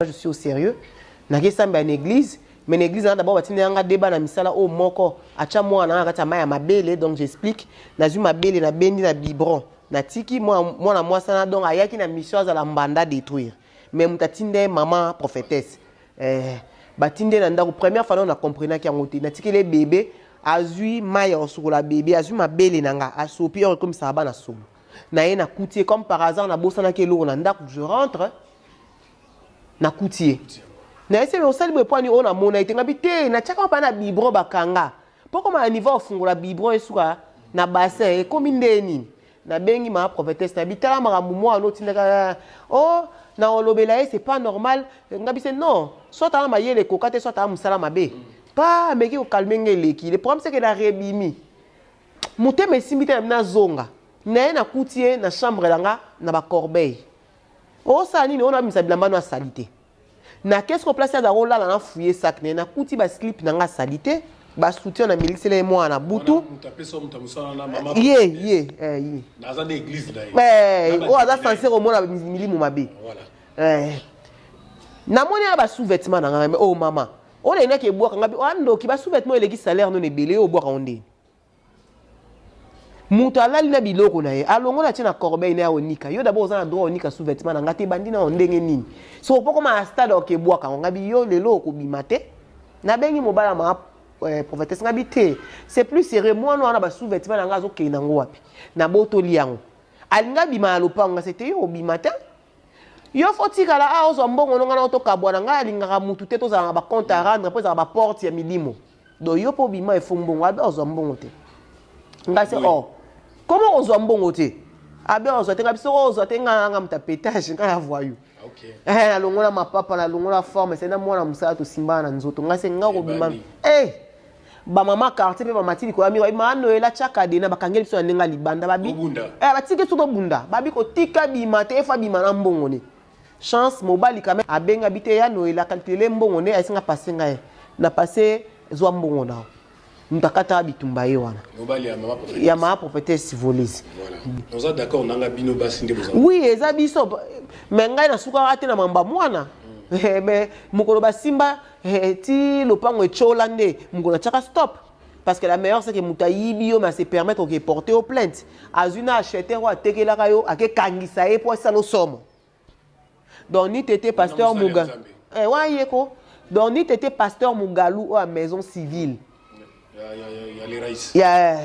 je suis au sérieux nake sambela na église mais na église nanga d'abord batindela nga deba na misala oyo moko atya mwana nanga kati ya mai ya mabele donc j'explique nazwi mabele nabendi na biberon natiki mwana mwasi wana donc ayaki na mission azala mbanda détruire mais moto atinda ye mama prophétesse eh, batindi ye na ndako première fois nao na comprenaki yango te natikeli ye bebe azwi mai ya kosukola bebe azwi mabele na nga asopi oko ekomisaka bana solo na ye nakuti ye comme par hasard nabosanaki eloko na ndako je rentre nakuti ye na ese me osali boye pwani oyo namona ete ngabi te natyaka mapa na bibron bakanga mpo koma na niveau ofungola bibron esuka na bassin ekomi nde nini nabengi mama prophetesse nabi tala makambo mwana otindaka o oh, na olobela ye c'est pas normal ngabi se non soit aa mayele ekoka te soit aa mosala mabe pa ameki kokalme ngai eleki le problème seke na rebimi motema esimbi te nabi nazonga na ye nakuti ye na chambre na nga na bacorbeille Osala nini oyo nabimisa bilamba no ya salite na kesi ko place azalaka olala na fouye sac naye nakuti ba slip na nga ya salite ba soutien na milisela ye mwana na butu ye ye oyo aza sense komona milimu mabe namoni ya ba sous vêtement na nga o oh, mama oyo nalinaki ebwaka nga oyo oh, andoki ba sous vêtement eleki salaire nono ebele yo obwaka ngo ndeni Mutu alali na biloko na ye alongola atie na corbeille naye aonika yo d'abord oza na droit onika sous vetement na nga te ebandi nao ndenge nini so opo okoma na stade ok bwaka ngo ngabi yo lelo okobima te na bengi mobala ma eh, prophetesse ngabi te c'est plus sérieux mwana wana ba sous vetement na nga azokende na ngo wapi na botoli yango alinga abima na lopango nga se te yo obima te yo fo tikala a ah, ozwa mbongo no nga na otokabwana nga alingaka mutu te tozala na ba compte à rendre mpo ezalaka ba porte ya milimo do yo po bima efo mbongo abe ozwa mbongo te ngai se oh comment ozwa mbongo te abe ozwa te ngai biso oh, ozwa te ngai nanga muta petage ngai ya voyou okay. eh nalongola mapapa nalongola forme se na mwana mosala tosimbana na nzoto ngai se ngai kobima eh bamama quartier mpe bamati likolo ya miro ma noela tya kadena bakangeli biso na ndenge ya libanda babi eh, batiki biso tobunda babi kotika bima te efa bima na mbongo ne Chance mobali quand meme abenga bite ya noel a calcule mbongo nde ayesinga passe nga ye na passe zwa mbongo na yo moto akataka bitumba ye wana ya mama prophetesse volise oui eza biso me ngai nasukaka te na mamba mwana hmm. eh, me mokolo basimba eh, ti lopango etyola nde mokolo atyaka stop parce que la meilleure c'est que moto ayibi yo mais ase permettre oke porte yo plainte azwi na acheteur oyo atekelaka yo akekangisa ye mpo asala osomo donc ni tete pasteur muga eh, wana ye ko donc ni tete pasteur mugalu oyo ya maison civile ya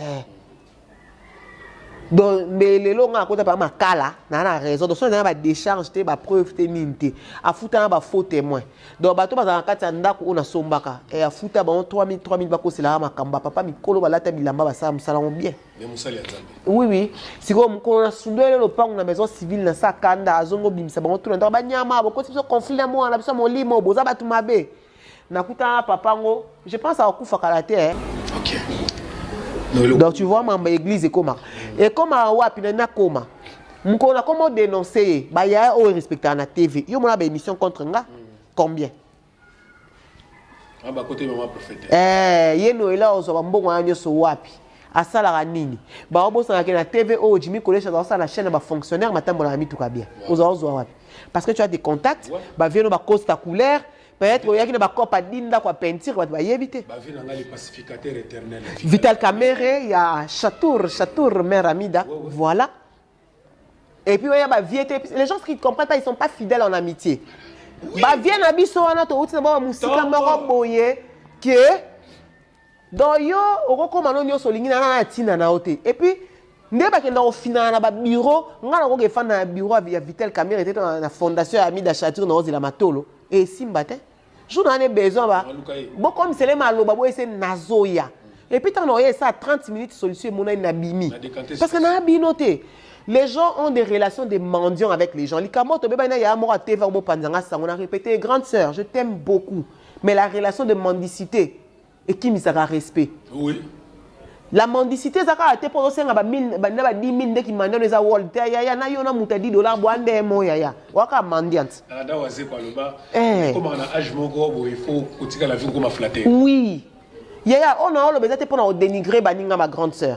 donc mais lelo nga akota pa makala na na raison donc soki na ba décharge te ba preuve te nini te afuta na ba faux témoin donc bato bazala kati ya ndako oyo nasombaka e afuta bango 3000 3000 bakoselaka makambo ba papa mikolo balata bilamba basala mosala yango bien oui oui sikoyo mokolo na sundwele lopango na maison civile na sa kanda azongo bimisa bango tuna ndako banyama bokosi biso conflit na mwana biso molimo boza bato mabe nakutana na papa yango je pense akufa kala te eh. okay. donc tu vois mamba église ekomaka ekomaka wapi na nakoma mokolo nakoma odenonce ye bayaya oyo erespectaka na tv yo mona baémission contre nga combien ah, eh, ye noela ozwa bambongo wana nyonso wapi Asalaka nini? Bao bosana ke na TV oyo Jimmy Kolesh aza kosala na chaine ya ba fonctionnaires batambolaka na mituka bien. Oza ozua wapi? Parce que tu as des contacts, ba vieux no ba costa couleur, peut etre oyaki na ba coop a 10 ndako ya peinture batu bayebi te. Ba vieux na ngai le pacificateur eternel. Vital Kamerhe ya Chatour, Chatour mère Amida, voilà. Et puis oya ba vieux te, les gens qui ne comprennent pas, ils sont pas fidèles en amitié. Ba vieux na biso wana to uti na ba musika moko boye que Donc yo oko koma no nionso olingi na nana tina na yo te et puis nde bakenda kofinana na ba bureau nga na koke fanda na bureau ya Vital Kamerhe te to na fondation ya Amida Chature na ozela matolo et simba te jour na ne besoin ba bokom sele maloba boye se nazoya et puis tant na oye ça 30 minutes solution emonani na bimi parce que na bino te Les gens ont des relations de mendiants avec les gens. Likambo to beba na ya moko TV obo panzanga sango na répéter grande sœur, je t'aime beaucoup. Mais la relation de mendicité ekimisaka respect oui la mendicité eza kaka te mpo ozosenga ba 1000 banda ba 10 000 nde kimanda no eza world te yaya na yo na moto ya 10 dollar bwa nde mo yaya waka mandiant ada wazeko aloba eh. ekomaka na age moko boye fo kotika la vie kokoma flatter oui yaya oyo naoloba eza te mpo na odenigre baninga ma grande sœur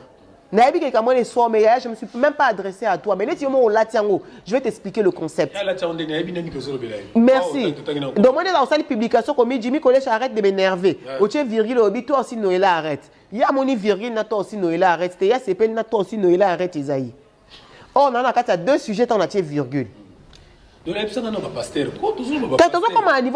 Nayebi ke likambo wana eswa yo mais yaya je me suis meme pas adresse à toi mais neti yo moko olati yango je vais t'expliquer le concept. Ye alati yango nde nayebi nde miki ozolobela ye. Merci. Waouh, totangi na nko. Donc omoni kaka osali publication okomi Jimmy Kolesha arrête de m'enerver. Ouais. Otie virgule olobi toi aussi Noela arrête. Ye amoni virgule na toi aussi Noela arrête te ye asepeli na toi aussi Noela arrête eza ye. Or naza na kati ya deux sujets ntango natie virgule. Donc nayebisa nga na ba pasteur. Ko tozoloba. Kasi tozokoma na niveau